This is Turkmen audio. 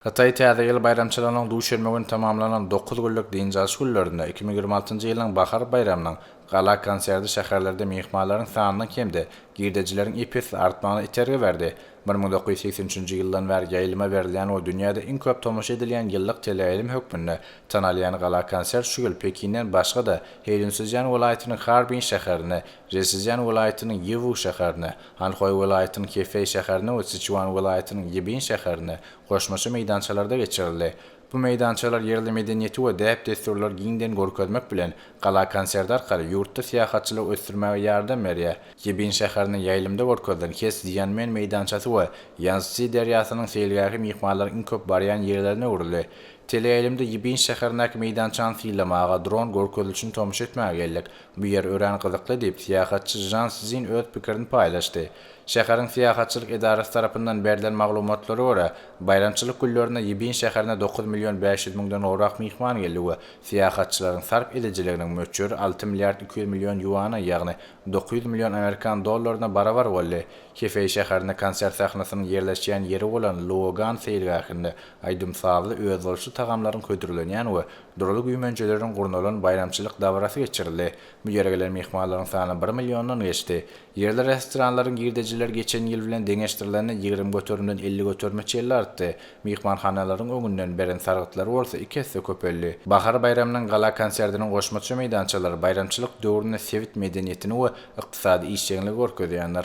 Hytaý Täze ýyl baýramçylygynyň duşenbe güni tamamlanan dokuz günlük dynç alyş günlerinde iki müň ýigrimi altynjy ýylyň bahar baýramynyň gala konserti şäherlerde myhmanlaryň sanynyň hem-de girdejileriň ep-esli artmagyna itergi berdi. Bir müň dokuz ýüz segsen üçünji ýyldan bäri ýaýlyma berilýän we dünýäde iň köp tomaşa edilýän ýyllyk teleýaýlym hökmünde tanalýan gala konsert şu ýyl Pekinden başga-da Heýunsizýan welaýatynyň Harbin şäherine, Zheşizýan welaýatynyň Ýiwu şäherine, Hanhoý welaýatynyň Hefeý şäherinde we Siçuan welaýatynyň Ýibin şäherinde goşmaça meýdançalarda geçirildi. Bu meýdançalar ýerli medeniýeti we däp-dessurlary giňden görkezmek bilen, gala konsert arkaly ýurtda syýahatçylygy ösdürmäge ýardam berýär. Ýibin şäherinde ýaýlymda görkezilen Hes Ziýanmen meýdançasy we Ýanszsi derýasynyň seýilgähi myhmanlaryň iň köp barýan ýerlerine öwrüldi. Teleýaýlymda Ýibin şäherindäki meýdançany sylamaga, dron görkezilişini tomaşa etmäge geldik. Bu ýer örän gyzykly, diýip, syýahatçy Žžan Szin öz pikirini paýlaşdy. Şäheriň syýahatçylyk edarasy tarapyndan berlen maglumatlara görä, baýramçylyk günlerinde Ýibin şäherine dokuz million bäş ýüz müňden gowrak myhman geldi we syýahatçylaryň sarp edijiliginiň möçberi alty milliard iki ýüz million ýuana, ýagny dokuz ýüz million amerikan dollaryna barabar boldy. Hefeý şäherinde konsert sahnasynyň ýerleşýän ýeri bolan Luogan seýilgähinde aýdym-sazly, özboluşly tagamlaryň hödürlenýän we Durly güýmenjeleriň gurnalan baýramçylyk dabarasy geçirildi. Bu ýere gelen myhmanlaryň sany bir milliondan geçdi. Ýerli restoranlaryň girdejileri geçen ýyl bilen deňeşdirilende ýigrimi göterimden elli göterime çenli artdy. Myhmanhanalaryň öňünden beren sargytlary bolsa iki esse köpeldi. Bahar baýramynyň gala konsertiniň goşmaça meýdançalary baýramçylyk döwründe sebit medeniýetini we ykdysady işjeňligi görkezýändir.